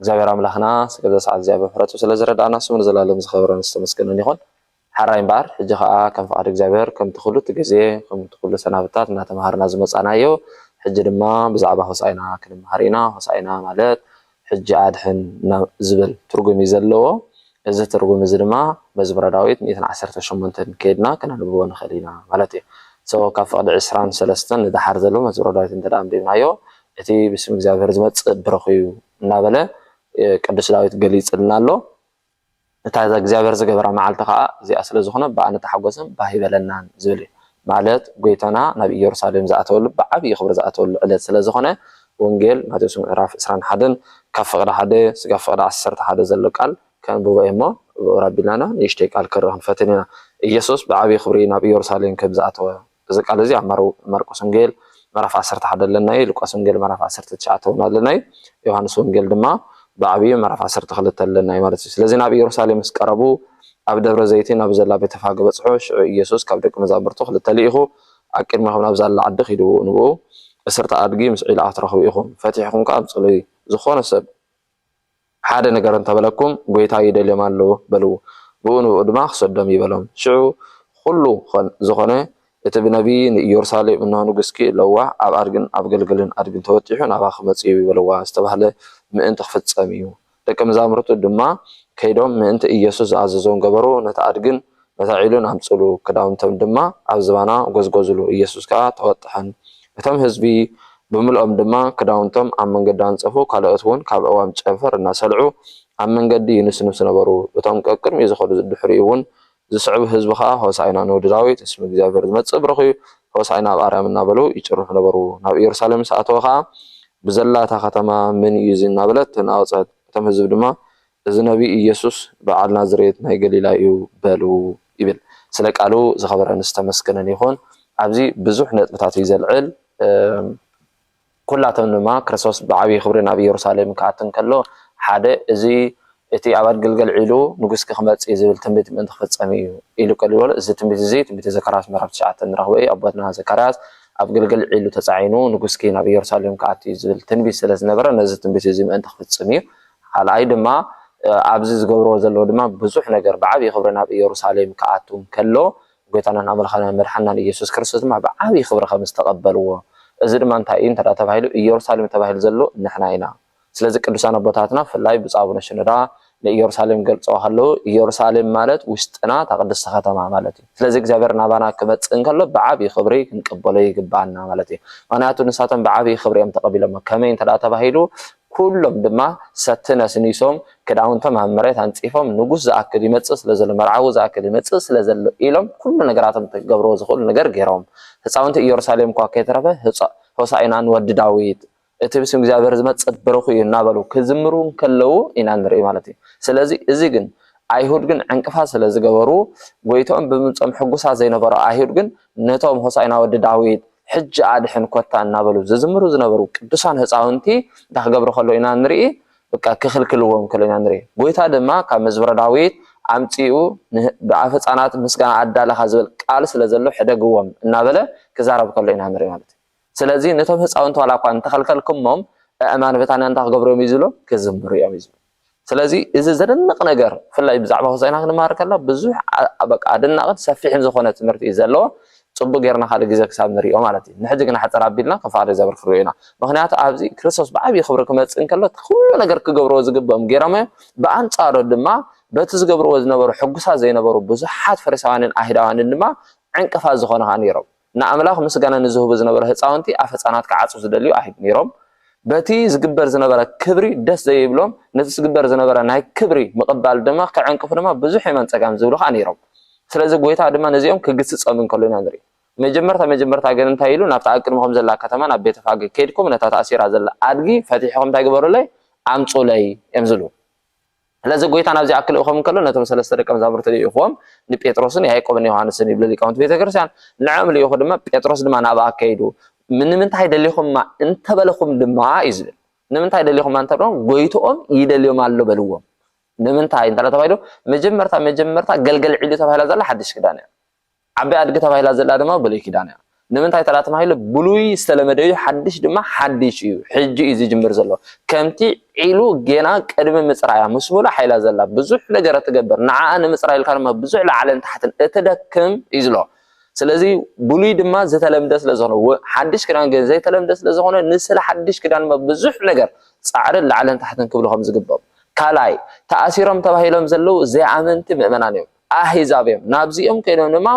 እግዚኣብሔር ኣምላክና ስገዛ ሰዓት እዚኣ ብምሕረቱ ስለ ዝረድኣና ስሙ ንዘላለም ዝከበረን ዝተመስገነን ይኩን ሐራይ እምበኣር ሕጂ ከኣ ከም ፍቃድ እግዚኣብሔር ከምቲ ኩሉቲ ግዜ ከምቲ ኩሉ ሰናብታት እናተማሃርና ዝመጻእናዮ ሕጂ ድማ ብዛዕባ ሆሳእና ክንማሃር ኢና ሆሳእና ማለት ሕጂ ኣድሕን ናብ ዝብል ትርጉም እዩ ዘለዎ እዚ ትርጉም እዚ ድማ መዝሙረ ዳዊት ሚእትን ዓሰርተ ሸሞንተን ከይድና ከነንብቦ ንክእል ኢና ማለት እዩ ሶ ካብ ፍቅዲ ዕስራን ሰለስተን ንደሓር ዘሎ መዝሙረ ዳዊት እንተ ኣንቢብናዮ እቲ ብስም እግዚኣብሔር ዝመጽእ ብሩኽ እዩ እናበለ ቅዱስ ዳዊት ገሊጽልና ኣሎ። እታ እግዚኣብሔር ዝገበራ መዓልቲ ከኣ እዚኣ ስለ ዝኾነ ብኣ ንተሓጎስን ባህ ይበለናን ዝብል እዩ። ማለት ጎይታና ናብ ኢየሩሳሌም ዝኣተወሉ ብዓቢይ ክብሪ ዝኣተወሉ ዕለት ስለ ዝኾነ ወንጌል ማቴዎስ ምዕራፍ ዕስራን ሓደን ካብ ፍቕዲ ሓደ ስጋብ ፍቕዲ ዓሰርተ ሓደ ዘሎ ቃል ከንብቦ እየ እሞ ብኡር ኣቢልና ንእሽተይ ቃል ክንርኢ ክንፈትን ኢና። ኢየሱስ ብዓቢይ ክብሪ ናብ ኢየሩሳሌም ከም ዝኣተወ። እዚ ቃል እዚ ኣብ ማርቆስ ወንጌል ምዕራፍ ዓሰርተ ሓደ ኣለና እዩ፣ ሉቃስ ወንጌል ምዕራፍ ዓሰርተ ትሽዓተ እውን ኣለና እዩ፣ ዮሃንስ ወንጌል ድማ ብዓብዩ ምዕራፍ ዓሰርተ ክልተ ኣለና እዩ ማለት እዩ። ስለዚ ናብ ኢየሩሳሌም ምስ ቀረቡ ኣብ ደብረ ዘይቲ ናብ ዘላ ቤተፋገ በጽሑ፣ ሽዑ ኢየሱስ ካብ ደቂ መዛሙርቱ ክልተ ልኢኹ፣ ኣቅድሜኹም ናብ ዛላ ዓዲ ኪዱ፣ ንብኡ እስርተ ኣድጊ ምስ ዒላኣ ትረኽቡ ኢኹም፣ ፈቲሕኹም ከኣ ኣምጽእሉይ፣ ዝኾነ ሰብ። ሓደ ነገር እንተ በለኩም፣ ጐይታ ይደልዮም ኣሎ በልዎ፣ ብኡ ንብኡ ድማ ኺሰዶም እዩ በሎም። ሽዑ ዅሉ ዀን ዝዀነ፣ እቲ ብነብዪ ንኢየሩሳሌም፣ እንሆ፣ ንጉስኪ እለዋ፣ ኣብ ኣድግን ኣብ ገልገልን ኣድግን ተወጢሑ ናብኣ ኺመጽእ እዩ በልዋ ዝተባህለ ምእንቲ ኺፍጸም እዩ። ደቀ መዛሙርቱ ድማ ከይዶም ምእንቲ ኢየሱስ ዝኣዘዞም ገበሩ፣ ነቲ ኣድግን ነታ ዒሉን ኣምጽሉ፣ ክዳውንቶም ድማ ኣብ ዝባና ጐዝጐዝሉ፣ ኢየሱስ ከኣ ተወጥሐን። እቶም ሕዝቢ ብምልኦም ድማ ክዳውንቶም ኣብ መንገዲ ኣንጸፉ፣ ካልኦት'ውን ካብ ኣእዋም ጨንፈር እናሰልዑ ኣብ መንገዲ ይንስንሱ ነበሩ፣ እቶም ቀቅድሚኡ ዝኸዱ ዝድሕሪኡ'ውን ዝስዕቡ ሕዝቢ ከኣ ሆሣዕና ንወዲ ዳዊት፣ እስመ እግዚኣብሔር ዝመጽእ ብሩኽ እዩ፣ ሆሣዕና ኣብ ኣርያም እናበሉ ይጭርሑ ነበሩ። ናብ ኢየሩሳሌም ምስ ኣተወ ከኣ ብዘላ እታ ከተማ መን እዩ እዚ እናበለት ተናወጸት፣ እቶም ሕዝቢ ድማ እዚ ነቢይ ኢየሱስ በዓል ናዝሬት ናይ ገሊላ እዩ በሉ ይብል ስለ ቃሉ ዝኸበረን ዝተመስገነን ይኹን ኣብዚ ብዙሕ ነጥብታት እዩ ዘልዕል ኩላቶም ድማ ክርስቶስ ብዓብይ ክብሪ ናብ ኢየሩሳሌም ክኣቱ እንከሎ ሓደ እዚ እቲ ኣብ ኣድግልገል ዒሉ ንጉስኪ ክመጽእ እዩ ዝብል ትንቢት ምእንቲ ክፍጸም እዩ ኢሉ ቀሊሉ በሎ እዚ ትንቢት እዚ ትንቢተ ዘካርያስ ምዕራፍ ትሽዓተ እንረኽቦ እዩ ኣቦትና ዘካርያስ ኣብ ግልገል ዒሉ ተጻዒኑ ንጉስኪ ናብ ኢየሩሳሌም ክኣቱ እዩ ዝብል ትንቢት ስለ ዝነበረ ነዚ ትንቢት እዚ ምእንቲ ክፍጽም እዩ ኻልኣይ ድማ ኣብዚ ዝገብርዎ ዘለዉ ድማ ብዙሕ ነገር ብዓብዪ ኽብሪ ናብ ኢየሩሳሌም ክኣቱ እንከሎ ጎይታናን ኣምላኽናን መድሓንናን ኢየሱስ ክርስቶስ ድማ ብዓብዪ ኽብሪ ኸም ዝተቐበልዎ እዚ ድማ እንታይ እዩ እንተ ተባሂሉ ኢየሩሳሌም ተባሂሉ ዘሎ ንሕና ኢና ስለዚ ቅዱሳን ኣቦታትና ብፍላይ ብፁዕ ኣቡነ ሽኖዳ ንኢየሩሳሌም ክገልፅዋ ኸለዉ ኢየሩሳሌም ማለት ውሽጥና እታ ቅድስቲ ኸተማ ማለት እዩ ስለዚ እግዚኣብሔር ናባና ክመፅእ እንከሎ ብዓብዪ ኽብሪ ክንቀበሎ ይግብኣና ማለት እዩ ምኽንያቱ ንሳቶም ብዓብዪ ኽብሪ እዮም ተቐቢሎሞ ከመይ እንተ ተባሂሉ ኩሎም ድማ ሰቲ ነስኒሶም ክዳውንቶም ኣብ መሬት ኣንጺፎም ንጉስ ዝኣክል ይመጽእ ስለ ዘሎ መርዓዊ ዝኣክል ይመጽእ ስለ ዘሎ ኢሎም ኩሉ ነገራቶም እቲ ክገብርዎ ዝኽእሉ ነገር ገይሮም ህጻውንቲ ኢየሩሳሌም እኳ ከይተረፈ ሆሳኢና ንወዲ ዳዊት እቲ ብስም እግዚኣብሔር ዝመጽእ ብሩኽ እዩ እናበሉ ክዝምሩ እንከለዉ ኢና ንርኢ ማለት እዩ ስለዚ እዚ ግን ኣይሁድ ግን ዕንቅፋት ስለ ዝገበሩ ጎይትኦም ብምምጾም ሕጉሳት ዘይነበሩ ኣይሁድ ግን ነቶም ሆሳኢና ወዲ ዳዊት ሕጂ ኣድሕን ኮታ እናበሉ ዝዝምሩ ዝነበሩ ቅዱሳን ህፃውንቲ እንታይ ክገብሩ ከሎ ኢና ንርኢ በቃ ክኽልክልዎም ከሎ ኢና ንርኢ ጎይታ ድማ ካብ መዝሙረ ዳዊት ኣምፂኡ ብኣፍ ህፃናት ምስጋና ኣዳለኻ ዝብል ቃል ስለ ዘሎ ሕደግዎም እናበለ ክዛረብ ከሎ ኢና ንርኢ ማለት እዩ ስለዚ ነቶም ህፃውንቲ ዋላ እኳ እንተኸልከልኩሞም ኣእማን በታንያ እንታይ ክገብሩ እዮም እዩ ዝብሎም ክዝምሩ እዮም እዩ ዝብሎም ስለዚ እዚ ዘደንቕ ነገር ብፍላይ ብዛዕባ ሆሳእና ክንመሃር ከለና ብዙሕ በቃ ኣደናቕን ሰፊሕን ዝኾነ ትምህርቲ እዩ ዘለዎ ጽቡቕ ጌርና ካልእ ግዜ ክሳብ ንሪኦ ማለት እዩ ንሕጂ ግን ሓጸር ኣቢልና ክፋል ዘብር ክንሪኦ ኢና ምኽንያቱ ኣብዚ ክርስቶስ ብዓብዪ ክብሪ ክመጽእ እንከሎ እቲ ኩሉ ነገር ክገብርዎ ዝግብኦም ጌሮም እዮም ብኣንጻሩ ድማ በቲ ዝገብርዎ ዝነበሩ ሕጉሳት ዘይነበሩ ብዙሓት ፈሪሳውያንን ኣይሁዳውያንን ድማ ዕንቅፋት ዝኾኑ ኸኣ ነይሮም ንኣምላኽ ምስጋና ንዝህቡ ዝነበረ ህጻውንቲ ኣፍ ህጻናት ክዓጹ ዝደልዩ ኣይብ ነይሮም። በቲ ዝግበር ዝነበረ ክብሪ ደስ ዘይብሎም ነቲ ዝግበር ዝነበረ ናይ ክብሪ ምቕባል ድማ ክዕንቅፉ ድማ ብዙሕ የማን ጸጋም ዝብሉ ከኣ ነይሮም። ስለዚ ጎይታ ድማ ነዚኦም ክግስጸም እንከሎ ኢና ንርኢ። መጀመርታ መጀመርታ ግን እንታይ ኢሉ ናብታ ኣብ ቅድመኹም ዘላ ከተማ ናብ ቤተፋገ ኬድኩም ነታ ተኣሲራ ዘላ ኣድጊ ፈቲሕኹም እንታይ ግበሩለይ ኣምጹለይ እዮም ዝሉ። ስለዚ ጎይታ ናብዚ ኣክ ልእኮም እንከሎ ነቶም ሰለስተ ደቀ መዛሙርቲ ልኢኹዎም ንጴጥሮስን ያይቆብን ዮሃንስን ይብሉ ሊቃውንቲ ቤተ ክርስቲያን ንዕኦም ልኢኹ ድማ ጴጥሮስ ድማ ናብ ኣከይዱ ንምንታይ ደሊኹማ እንተበለኹም ድማ እዩ ዝብል ንምንታይ ደሊኹማ እንተበለኹም ጎይትኦም ይደልዮም ኣሎ በልዎም ንምንታይ እንተ ተባሂሉ መጀመርታ መጀመርታ ገልገል ዒሉ ተባሂላ ዘላ ሓድሽ ክዳን እያ ዓባይ ኣድጊ ተባሂላ ዘላ ድማ ብሉይ ኪዳን እያ። ንምንታይ ተራ ተባሂሉ ብሉይ ዝተለመደ እዩ ሓድሽ ድማ ሓድሽ እዩ ሕጂ እዩ ዝጅምር ዘሎ ከምቲ ዒሉ ጌና ቅድሚ ምጽራያ ምስ ሙሉእ ሓይላ ዘላ ብዙሕ ነገር እትገብር ንዓኣ ንምጽራይ ኢልካ ድማ ብዙሕ ላዕልን ታሕትን እትደክም እዩ ዝሎ ስለዚ ብሉይ ድማ ዝተለምደ ስለ ዝኾነ ሓድሽ ክዳን ግን ዘይተለምደ ስለ ዝኾነ ንስለ ሓድሽ ክዳን ድማ ብዙሕ ነገር ጻዕርን ላዕልን ታሕትን ክብሉ ከም ዝግብኦም ካልኣይ ተኣሲሮም ተባሂሎም ዘለዉ ዘይኣመንቲ ምእመናን እዮም ኣህዛብ እዮም። ናብዚኦም ከይዶም ድማ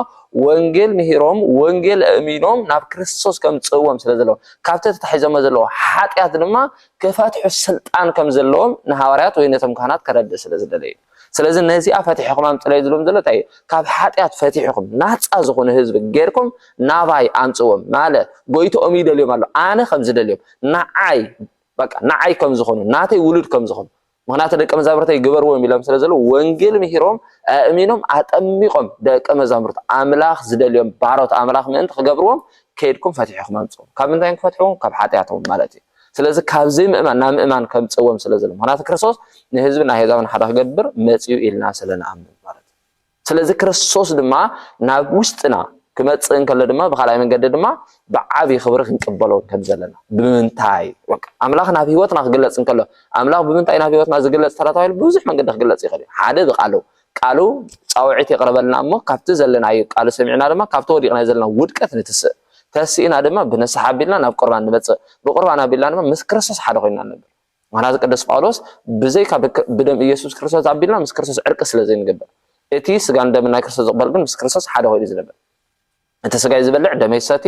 ወንጌል ምሂሮም ወንጌል ኣእሚኖም ናብ ክርስቶስ ከምጽእዎም ስለ ዘለዎም ካብቲ ተታሒዞሞ ዘለዎ ሓጢኣት ድማ ክፈትሑ ስልጣን ከም ዘለዎም ንሃዋርያት ወይ ነቶም ካህናት ከረድእ ስለ ዝደለዩ ስለዚ ነዚኣ ፈቲሕኹም ኣምጽለይ ዝብሎም ዘሎ እንታይ እዩ ካብ ሓጢኣት ፈቲሕኹም ናፃ ዝኾኑ ህዝቢ ጌርኩም ናባይ ኣምፅዎም ማለት ጎይትኦም ይደልዮም ኣሎ ኣነ ከም ዝደልዮም ንዓይ በቃ ንዓይ ከም ዝኾኑ ናተይ ውሉድ ከም ዝኾኑ ምክንያቱ ደቀ መዛሙርተይ ግበርዎም ኢሎም ስለ ዘለዉ ወንጌል ምሂሮም ኣእሚኖም ኣጠሚቖም ደቀ መዛሙርት ኣምላኽ ዝደልዮም ባሮት ኣምላኽ ምእንቲ ክገብርዎም ከይድኩም ፈትሕኹም ኣምጽኦም ካብ ምንታይ ክፈትሕዎም ካብ ሓጢኣቶም ማለት እዩ ስለዚ ካብ ዘይምእማን ናብ ምእማን ከምጽዎም ስለ ዘሎ ምክንያቱ ክርስቶስ ንህዝብን ኣህዛብን ሓደ ክገብር መጽኡ ኢልና ስለ ንኣምን ማለት እዩ ስለዚ ክርስቶስ ድማ ናብ ውሽጥና ክመጽእ እንከሎ ድማ ብካልኣይ መንገዲ ድማ ብዓብዪ ክብሪ ክንቅበሎ ከም ዘለና ብምንታይ ኣምላኽ ናብ ህይወትና ክግለጽ እንከሎ ኣምላኽ ብምንታይ ናብ ህይወትና ዝግለጽ ተረታዊ ብዙሕ መንገዲ ክግለጽ ይኽእል እዩ ሓደ ብቃሉ ቃሉ ጻውዒት የቕርበልና እሞ ካብቲ ዘለናዩ ቃሉ ሰሚዕና ድማ ካብቲ ወዲቕና ዘለና ውድቀት ንትስእ ተሲእና ድማ ብንስሓ ኣቢልና ናብ ቁርባን ንመጽእ ብቁርባን ኣቢልና ድማ ምስ ክርስቶስ ሓደ ኮይና ነብር ምክንያቱ ቅዱስ ጳውሎስ ብዘይካ ብደም ኢየሱስ ክርስቶስ ኣቢልና ምስ ክርስቶስ ዕርቂ ስለ ዘይንገብር እቲ ስጋን ደምን ናይ ክርስቶስ ዝቕበል ግን ምስ ክርስቶስ ሓደ ኮይኑ ዝነብር እቲ ስጋይ ዝበልዕ ደመይ ሰቲ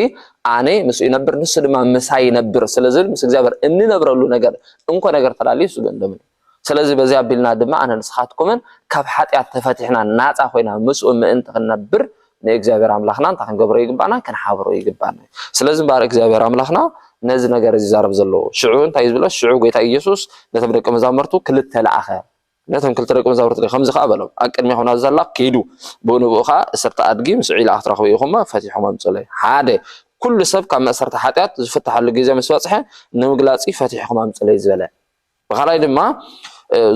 ኣነ ምስ ይነብር ንሱ ድማ ምሳይ ይነብር ስለ ዝብል ምስ እግዚኣብሔር እንነብረሉ ነገር እንኮ ነገር ተላለዩ ስግን ደምን ስለዚ በዚ ኣቢልና ድማ ኣነ ንስኻትኩምን ካብ ሓጢኣት ተፈቲሕና ናፃ ኮይና ምስኡ ምእንቲ ክንነብር ንእግዚኣብሔር ኣምላኽና እንታይ ክንገብሮ ይግባእና ክንሓብሮ ይግባእና እዩ ስለዚ እምበኣር እግዚኣብሔር ኣምላኽና ነዚ ነገር እዚ ዛረብ ዘለዎ ሽዑ እንታይ ዝብሎ ሽዑ ጎይታ ኢየሱስ ነቶም ደቂ መዛሙርቱ ክልተ ለኣኸ ነቶም ክልተ ደቂ መዛሙርቱ ከምዚ ከዓ በሎም ኣብ ቅድሚኹም ናብ ዘላ ኪዱ ብኡ ንብኡ ከዓ እሰርተ ኣድጊ ምስ ዒላ ክትረኽቡ ኢኹሞ ፈቲሖም ኣምፅኡለይ ሓደ ኩሉ ሰብ ካብ መእሰርቲ ሓጢኣት ዝፍትሓሉ ግዜ ምስ በፅሐ ንምግላፂ ፈቲሕኹም ኣምፅለይ ዝበለ ብካልኣይ ድማ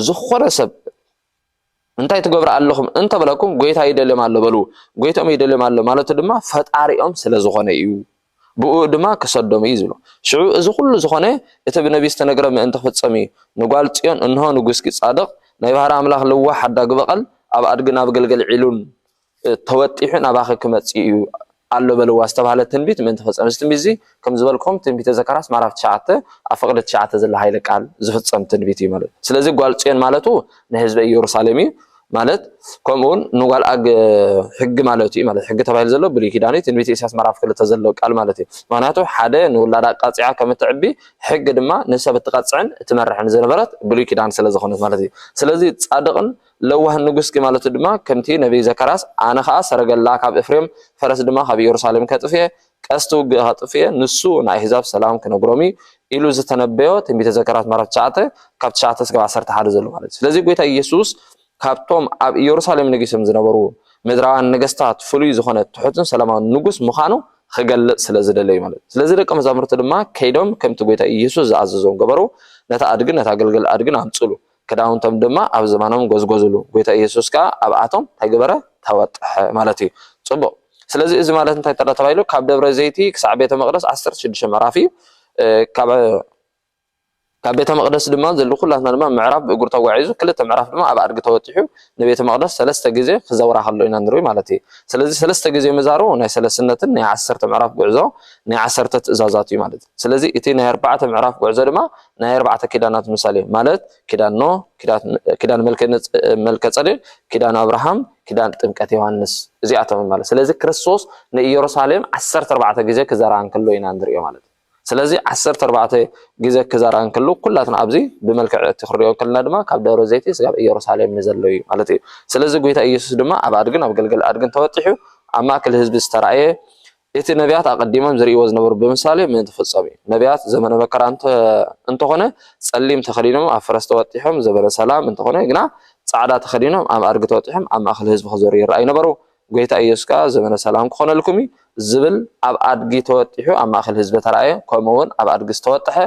ዝኾነ ሰብ እንታይ ትገብሩ ኣለኹም እንተበለኩም ጎይታ ይደልዮም ኣሎ በሉ ጎይትኦም ይደልዮም ኣሎ ማለቱ ድማ ፈጣሪኦም ስለ ዝኾነ እዩ ብኡ ድማ ክሰዶም እዩ ዝብሎ ሽዑ እዚ ኩሉ ዝኾነ እቲ ብነቢ ዝተነግረ ምእንቲ ክፍጸም እዩ ንጓል ጽዮን እንሆ ንጉስኪ ጻድቕ ናይ ባህሪ ኣምላኽ ልዋሕ ሓዳጊ በቐል ኣብ ኣድጊ ናብ ገልገል ዒሉን ተወጢሑ ናባኺ ክመጽእ እዩ ኣሎ በልዋ ዝተባህለ ትንቢት ምእንቲ ክፍጸም። እዚ ትንቢት እዚ ከም ዝበልክኹም ትንቢተ ዘካርያስ ምዕራፍ ትሽዓተ ኣብ ፍቕዲ ትሽዓተ ዘሎ ሃይለ ቃል ዝፍጸም ትንቢት እዩ ማለት ስለዚ ጓል ጽዮን ማለቱ ንህዝበ ኢየሩሳሌም እዩ ማለት ከምኡውን ንጓል ኣግ ሕጊ ማለት እዩ ማለት ሕጊ ተባሂሉ ዘሎ ብሉይ ኪዳን እዩ ትንቢት ኢሳያስ ምዕራፍ ክልተ ዘሎ ቃል ማለት እዩ ምክንያቱ ሓደ ንውላዳ ኣቃፂዓ ከም እትዕቢ ሕጊ ድማ ንሰብ እትቐፅዕን እትመርሕን ዝነበረት ብሉይ ኪዳን ስለ ዝኾነት ማለት እዩ ስለዚ ፃድቕን ለዋህ ንጉስኪ ማለቱ ድማ ከምቲ ነብዪ ዘካርያስ፣ ኣነ ኸኣ ሰረገላ ካብ እፍሬም፣ ፈረስ ድማ ካብ ኢየሩሳሌም ከጥፍእ እየ፣ ቀስቲ ውግእ ከጥፍእ እየ፣ ንሱ ንኣሕዛብ ሰላም ክነግሮም እዩ ኢሉ ዝተነበዮ ትንቢተ ዘካርያስ ምዕራፍ ትሽዓተ ካብ ትሽዓተ እስካብ ዓሰርተ ሓደ ዘሎ ማለት እዩ። ስለዚ ጎይታ ኢየሱስ ካብቶም ኣብ ኢየሩሳሌም ነጊሶም ዝነበሩ ምድራውያን ነገስታት ፍሉይ ዝኾነ ትሑትን ሰላማውን ንጉስ ምዃኑ ክገልጽ ስለ ዝደለ እዩ ማለት እዩ። ስለዚ ደቀ መዛሙርቲ ድማ ከይዶም ከምቲ ጎይታ ኢየሱስ ዝኣዘዞም ገበሩ፣ ነታ ኣድግን ነታ ግልገል ኣድግን ኣምጽሉ፣ ክዳውንቶም ድማ ኣብ ዝባኖም ጎዝጎዝሉ። ጎይታ ኢየሱስ ከኣ ኣብኣቶም ታይ ገበረ? ተወጠሐ ማለት እዩ። ጽቡቕ። ስለዚ እዚ ማለት እንታይ ተሎ ተባሂሉ ካብ ደብረ ዘይቲ ክሳዕ ቤተ መቕደስ ዓሰርተ ሽዱሽተ ምዕራፍ እዩ። ካብ ካብ ቤተ መቕደስ ድማ ዘሉ ኩላትና ድማ ምዕራብ ብእግሩ ተጓዒዙ ክልተ ምዕራፍ ድማ ኣብ ኣድጊ ተወጢሑ ንቤተ መቕደስ ሰለስተ ግዜ ክዘውራ ከሎ ኢና ንርኢ ማለት እዩ። ስለዚ ሰለስተ ግዜ ምዛሩ ናይ ሰለስነትን ናይ ዓሰርተ ምዕራፍ ጉዕዞ ናይ ዓሰርተ ትእዛዛት እዩ ማለት እዩ። ስለዚ እቲ ናይ ኣርባዕተ ምዕራፍ ጉዕዞ ድማ ናይ ኣርባዕተ ኪዳናት ምሳሌ እዩ። ማለት ኪዳን ኖህ፣ ኪዳን መልከ-ጸዴቅ፣ ኪዳን ኣብርሃም፣ ኪዳን ጥምቀት ዮሃንስ እዚኣቶም እዮም ማለት። ስለዚ ክርስቶስ ንኢየሩሳሌም ዓሰርተ ኣርባዕተ ግዜ ክዘርኣ እንከሎ ኢና እንርእዮ ማለት እዩ። ስለዚ ዓሰርተ ኣርባዕተ ግዜ ክዘርኣ እንከሎ ኩላትና ኣብዚ ብመልክዕ እቲ ክንሪኦ ከለና ድማ ካብ ደብረ ዘይቲ ስጋብ ኢየሩሳሌም ንዘሎ እዩ ማለት እዩ። ስለዚ ጎይታ ኢየሱስ ድማ ኣብ ኣድግን ኣብ ገልገል ኣድግን ተወጢሑ ኣብ ማእከል ህዝቢ ዝተራእየ እቲ ነብያት ኣቐዲሞም ዝርእይዎ ዝነበሩ ብምሳሌ ምእንቲ ክፍጸም እዩ። ነብያት ዘመነ መከራ እንተ እንተኾነ ጸሊም ተኸዲኖም ኣብ ፈረስ ተወጢሖም ዘበነ ሰላም እንተኾነ ግና ጻዕዳ ተኸዲኖም ኣብ ኣድጊ ተወጢሖም ኣብ ማእከል ህዝቢ ክዘሩ ይረኣዩ ነበሩ። ጎይታ ኢየሱስ ከኣ ዘመነ ሰላም ክኾነልኩም እዩ ዝብል ኣብ ኣድጊ ተወጢሑ ኣብ ማእከል ህዝቢ ተራእየ ከምኡ ውን ኣብ ኣድጊ ዝተወጠሐ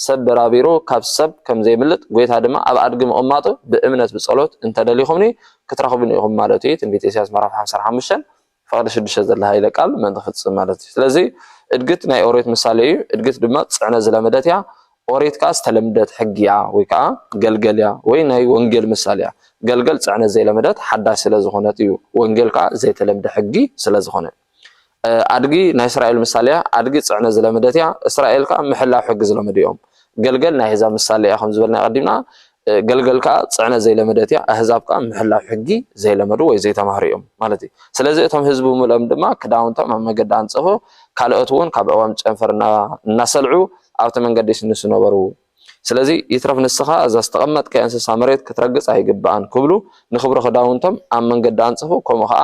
ሰብ በራቢሩ ካብ ሰብ ከም ዘይምልጥ ጎይታ ድማ ኣብ ኣድጊ ምቕማጡ ብእምነት ብጸሎት እንተ ደሊኹምኒ ክትረኽቡኒ ኢኹም ማለቱ እዩ ትንቢት ኢሳያስ ምዕራፍ ሓምሳን ሓሙሽተን ፍቕዲ ሽዱሽተ ዘለ ሃይለ ቃል ምእንቲ ክፍጽም ማለት እዩ። ስለዚ እድግት ናይ ኦሬት ምሳሌ እዩ። እድግት ድማ ጽዕነ ዝለመደት እያ። ኦሬት ከኣ ዝተለምደት ሕጊ እያ ወይ ከኣ ገልገል እያ ወይ ናይ ወንጌል ምሳሌ እያ። ገልገል ጽዕነ ዘይለመደት ሓዳሽ ስለ ዝኾነት እዩ። ወንጌል ከኣ ዘይተለምደ ሕጊ ስለ ዝኾነ። ኣድጊ ናይ እስራኤል ምሳሌ እያ። ኣድጊ ጽዕነ ዝለመደት እያ። እስራኤል ከኣ ምሕላው ሕጊ ዝለመዱ እዮም። ገልገል ናይ ኣሕዛብ ምሳሌ እያ ከም ዝበልና ቀዲምና ገልገል ከኣ ጽዕነት ዘይለመደት እያ፣ ኣህዛብ ከኣ ምሕላው ሕጊ ዘይለመዱ ወይ ዘይተማህሩ እዮም ማለት እዩ። ስለዚ እቶም ህዝቢ ብምልኦም ድማ ክዳውንቶም ኣብ መገዲ ኣንጸፉ፣ ካልኦት እውን ካብ ኣእዋም ጨንፈር እናሰልዑ ኣብቲ መንገዲ ይስንሱ ነበሩ። ስለዚ ይትረፍ ንስኻ እዛ ዝተቐመጥካዮ እንስሳ መሬት ክትረግጽ ኣይግብኣን ክብሉ ንክብሪ ክዳውንቶም ኣብ መንገዲ ኣንጸፉ፣ ከምኡ ከኣ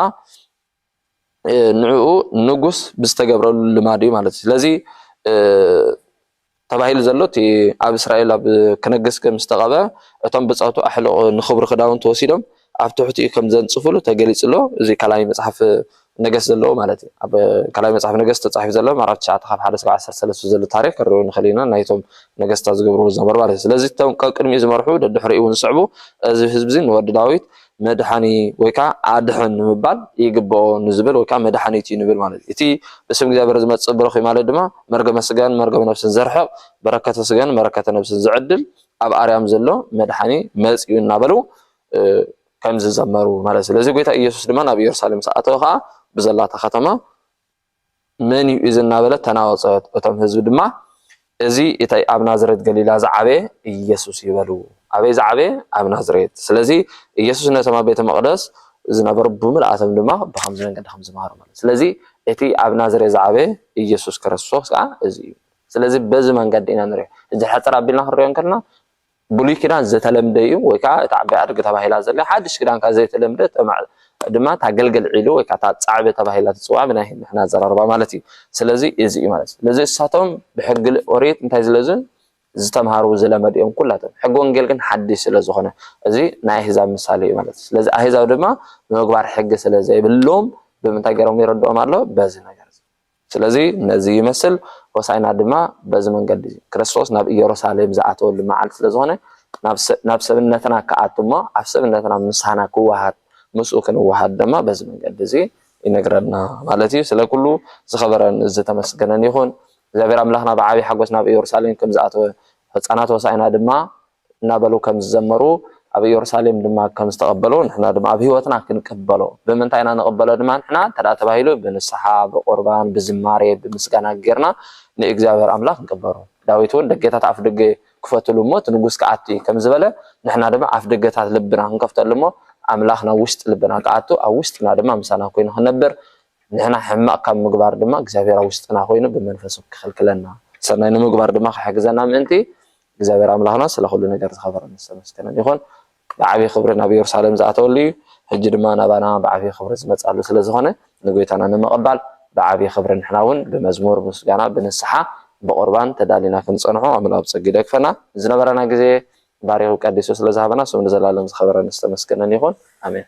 ንዕኡ ንጉስ ብዝተገብረሉ ልማድ እዩ ማለት እዩ ስለዚ ተባሂሉ ዘሎ እቲ ኣብ እስራኤል ኣብ ክነግስ ከም ዝተቐበ እቶም ብፀቱ ኣሕልቑ ንክብሩ ክዳውንቲ ወሲዶም ኣብ ትሕቲኡ ከም ዘንፅፍሉ ተገሊፁ ኣሎ እዚ ካልኣይ መፅሓፍ ነገስት ዘለዎ ማለት እዩ ኣብ ካልኣይ መፅሓፍ ነገስት ተፃሒፉ ዘሎ ምዕራፍ ትሽዓተ ካብ ሓደ ክሳብ ዓሰርተ ሰለስተ ዘሎ ታሪክ ክንሪኦ ንኽእል ኢና ናይቶም ነገስታት ዝገብርዎ ዝነበሩ ማለት እዩ ስለዚ እቶም ቀቅድሚኡ ዝመርሑ ደድሕሪኡ እውን ዝስዕቡ እዚ ህዝቢ እዚ ንወዲ ዳዊት መድሓኒ ወይ ከኣ ኣድሕን ንምባል ይግበኦ ንዝብል ወይ ከኣ መድሓኒት እዩ ንብል ማለት እዩ። እቲ ብስም እግዚኣብሔር ዝመጽእ ብሩኽ እዩ ማለት ድማ መርገመ ስጋን መርገመ ነፍስን ዘርሕቕ በረከተ ስጋን በረከተ ነፍስን ዝዕድል ኣብ ኣርያም ዘሎ መድሓኒ መጺኡ እናበሉ ከምዝዘመሩ ማለት እዩ። ስለዚ ጎይታ ኢየሱስ ድማ ናብ ኢየሩሳሌም ምስ ኣተወ ከኣ ብዘላታ ከተማ መን እዩ እዚ እናበለት ተናወጸት። እቶም ህዝቢ ድማ እዚ እቲ ኣብ ናዝሬት ገሊላ ዝዓበየ ኢየሱስ እዩ በሉ። ኣበይ ዝዓበየ? ኣብ ናዝሬት። ስለዚ ኢየሱስ ነቶም ኣብ ቤተ መቕደስ ዝነበሩ ብምልኣቶም ድማ ብኸምዚ መንገዲ ከም ዝመሃሮም ማለት እዩ። ስለዚ እቲ ኣብ ናዝሬት ዝዓበየ ኢየሱስ ክርስቶስ ከኣ እዚ እዩ። ስለዚ በዚ መንገዲ ኢና ንሪኦ። ሕጂ ሕጽር ኣቢልና ክንሪኦ እንከለና ብሉይ ኪዳን ዝተለምደ እዩ ወይ ከዓ እታ ዓባይ ኣድጊ ተባሂላ ዘላ ሓድሽ ኪዳን ከዓ ዘይተለምደ ድማ እታ ገልገል ዒሉ ወይ ከዓ እታ ፃዕበ ተባሂላ ትፅዋዕ ብናይ ንሕና ኣዘራርባ ማለት እዩ ስለዚ እዚ እዩ ማለት ስለዚ እሳቶም ብሕጊ ኦሪት እንታይ ዝለዙ ዝተምሃሩ ዝለመዱ እዮም ኩላቶም ሕጊ ወንጌል ግን ሓድሽ ስለ ዝኾነ እዚ ናይ ኣህዛብ ምሳሌ እዩ ማለት ስለዚ ኣህዛብ ድማ ንምግባር ሕጊ ስለ ዘይብሎም ብምንታይ ገይሮም ይረድኦም ኣሎ በዚ ነገር ስለዚ ነዚ ይመስል፣ ሆሣዕና ድማ በዚ መንገዲ እዚ። ክርስቶስ ናብ ኢየሩሳሌም ዝኣተወሉ መዓልቲ ስለ ዝኾነ፣ ናብ ሰብነትና ክኣቱ እሞ ኣብ ሰብነትና ምሳና ክወሃድ ምስኡ ክንወሃድ ድማ በዚ መንገዲ እዚ ይነግረና ማለት እዩ። ስለ ኩሉ ዝኸበረን ዝተመስገነን ይኹን። እግዚኣብሔር ኣምላኽና ብዓቢይ ሓጐስ ናብ ኢየሩሳሌም ከም ዝኣተወ፣ ሕፃናት ሆሣዕና ድማ እናበሉ ከም ዝዘመሩ ኣብ እዮርሳሌም ድማ ከም ዝተቐበሉ ንሕና ድማ ኣብ ህይወትና ክንቅበሎ ብምንታይ ኢና ንቕበሎ ድማ ንሕና እንተ ተባሂሉ ብንስሓ ብቑርባን ብዝማሬ ብምስጋና ጌርና ንእግዚኣብሔር ኣምላኽ ንቅበሮ ዳዊት እውን ደጌታት ኣፍ ደገ ክፈትሉ እሞ እቲ ንጉስ ክኣቲ ከም ዝበለ ንሕና ድማ ኣፍ ደገታት ልብና ክንከፍተሉ እሞ ኣምላኽ ናብ ውሽጢ ልብና ክኣቱ ኣብ ውሽጥና ድማ ምሳና ኮይኑ ክነብር ንሕና ሕማቕ ካብ ምግባር ድማ እግዚኣብሔር ኣብ ውሽጥና ኮይኑ ብመንፈሱ ክኽልክለና ሰናይ ንምግባር ድማ ክሕግዘና ምእንቲ እግዚኣብሔር ኣምላኽና ስለ ዅሉ ነገር ዝኸበረን ዝተመስገነን ይኹን። ብዓብዪ ኽብሪ ናብ ኢየሩሳሌም ዝኣተወሉ እዩ፣ ሕጂ ድማ ናባና ብዓብዪ ኽብሪ ዝመጽኣሉ ስለ ዝዀነ ንጐይታና ንምቕባል ብዓብዪ ኽብሪ ንሕና እውን ብመዝሙር ምስጋና ብንስሓ ብቝርባን ተዳሊና ክንጸንሖ ኣምላኽ ብጸጊኡ ይደግፈና። ዝነበረና ግዜ ባሪኹ ቀዲሱ ስለ ዝሃበና ስሙ ንዘለኣለም ዝኸበረን ዝተመስገነን ይኹን። ኣሜን።